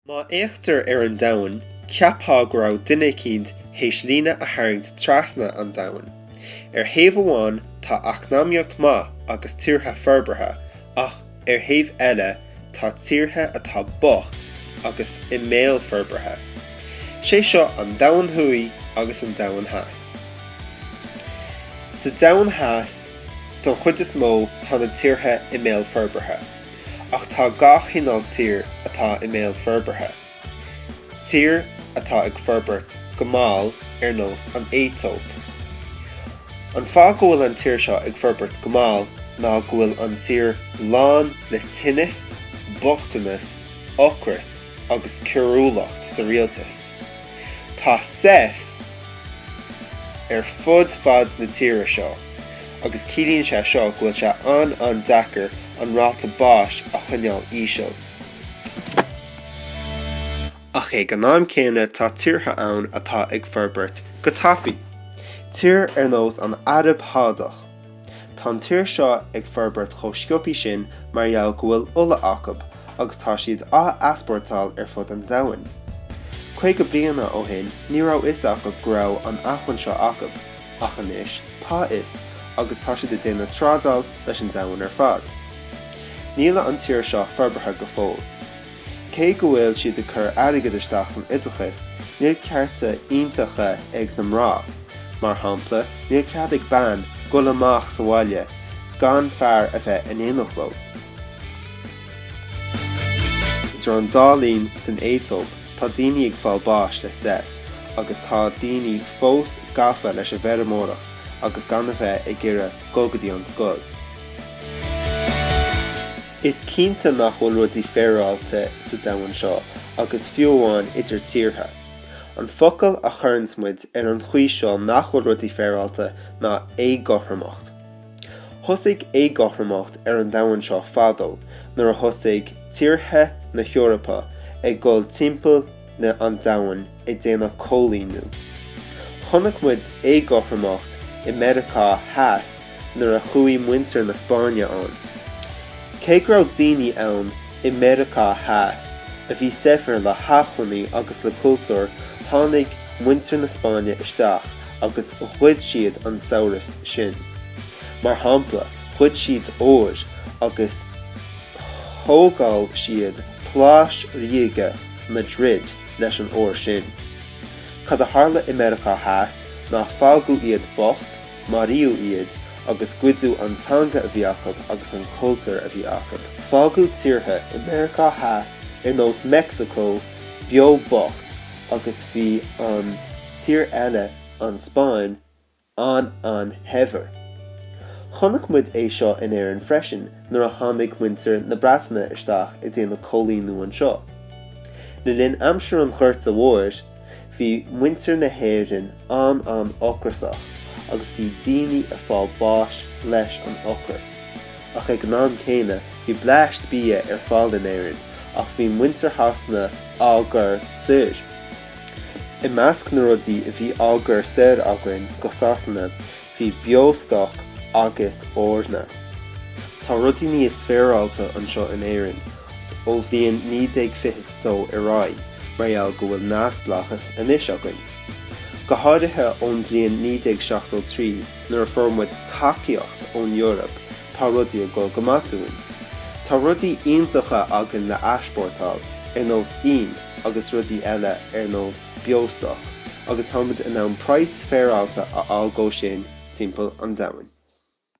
Má fhéachtar ar an domhan, cheapfá go raibh duine eicínt théis líne a tharraingt trasna an domhain. Ar thaobh amháin, tá eacnamaíocht maith agus tíortha forbartha, ach ar thaobh eile, tá tíortha atá bocht agus i mbéal forbartha. Sé seo an Domhan Thuaidh agus an Domhan Theas. Sa Domhan Theas, don chuid is mó, tá na tíortha i mbéal forbartha. Ach tá gach cineál tír atá i mbéal forbartha. Tír atá ag forbairt go mall ar nós an Aetóip. An fáth go bhfuil an tír seo ag forbairt go mall ná go bhfuil an tír lán le tinnis, bochtanas, ocras agus coiriúlacht sa rialtas. Tá SEIF ar fud fad na tíre seo agus ciallaíonn sé seo go bhfuil sé an-an-deacair an ráta báis a choinneáil íseal. Ach ag an am céanna tá tíortha ann atá ag forbairt go tapaí, tír ar nós an Araib Shádach. Tá an tír seo ag forbairt chomh sciobthaí sin mar gheall go bhfuil ola acab agus tá siad á easpórtáil ar fud an domhain. Caoga bliana ó shin ní raibh fhios acab go raibh an acmhainn seo acab. Ach anois tá fhios agus tá siad ag déanamh trádáil leis an domhan ar fad. Níl an tír seo forbartha go fóill. Cé go bhfuil siad ag cur airgead isteach san oideachas, níl cearta iontacha ag na mná. Mar shampla, níl cead ag bean dhul amach sa bhaile gan fear a bheith in éineacht leo. Idir an dá linn san Aetóip, Tá daoine ag fáil báis le SEIF agus tá daoine fós gafa leis an bhfeirmeoireacht agus gan a bheith ag iarraidh dul go dtí an scoil. Is cinnte nach bhfuil rudaí féaráilte sa domhan seo agus fiú amháin idir tíortha. An focal a chuireanns muid ar an chaoi seo nach bhfuil rudaí féaráilte ná éagothromacht. Thosaigh éagothromacht ar an domhan seo fadó nuair a thosaigh tíortha na hEorpa ag dul timpeall na an domhain ag déanamh coilíniú. Chonaic muid éagothromacht i Meiriceá Theas nuair a chuaigh muintir na Spáinne ann. Cé go raibh daoine ann i Meiriceá Theas a bhí saibhir le hachmhainní agus le cultúr tháinig muintir na Spáinne isteach agus ghoid siad an saibhreas sin. Mar shampla, ghoid siad ór agus thógáil siad Páláis Ríoga Madrid leis an ór sin. Cad a tharla i Meiriceá Theas ná fágadh iad bocht, maraíodh iad, agus goideadh an teanga a bhí acub agus an cultúr a bhí acub. Fágadh tíortha i Meiriceá Theas ar nós Meicsiceo beo bocht agus bhí an. tír eile, an Spáinn, an-an-shaibhir. Chonaic muid é seo in Éirinn freisin nuair a tháinig muintir na Breataine isteach ag déanamh coilíniú anseo. Le linn aimsir an Ghorta Mhóir, bhí muintir na hÉireann an-an-ocrasach agus bhí daoine ag fáil báis leis an ocras. Ach ag an am céanna, bhí bleaist bia ar fáil in Éirinn ach bhí muintir Shasana á gcur soir. I measc na rudaí a bhí á gcur soir againn go Sasana bhí beostoc agus eorna. Tá rudaí níos féaráilte anseo in Éirinn ón bhliain 1922 ar aghaidh mar gheall go bhfuil neamhspleáchas anois againn. Go háirithe ón bhliain 1973 nuair a fuair muid tacaíocht ón Eoraip tá rudaí ag dul go maith dúinn. Tá rudaí iontacha againn le easpórtáil, ar nós ím. agus rudaí eile ar nós beostoc, agus tá muid in ann praghas féaráilte a fháil dhó sin timpeall an domhain.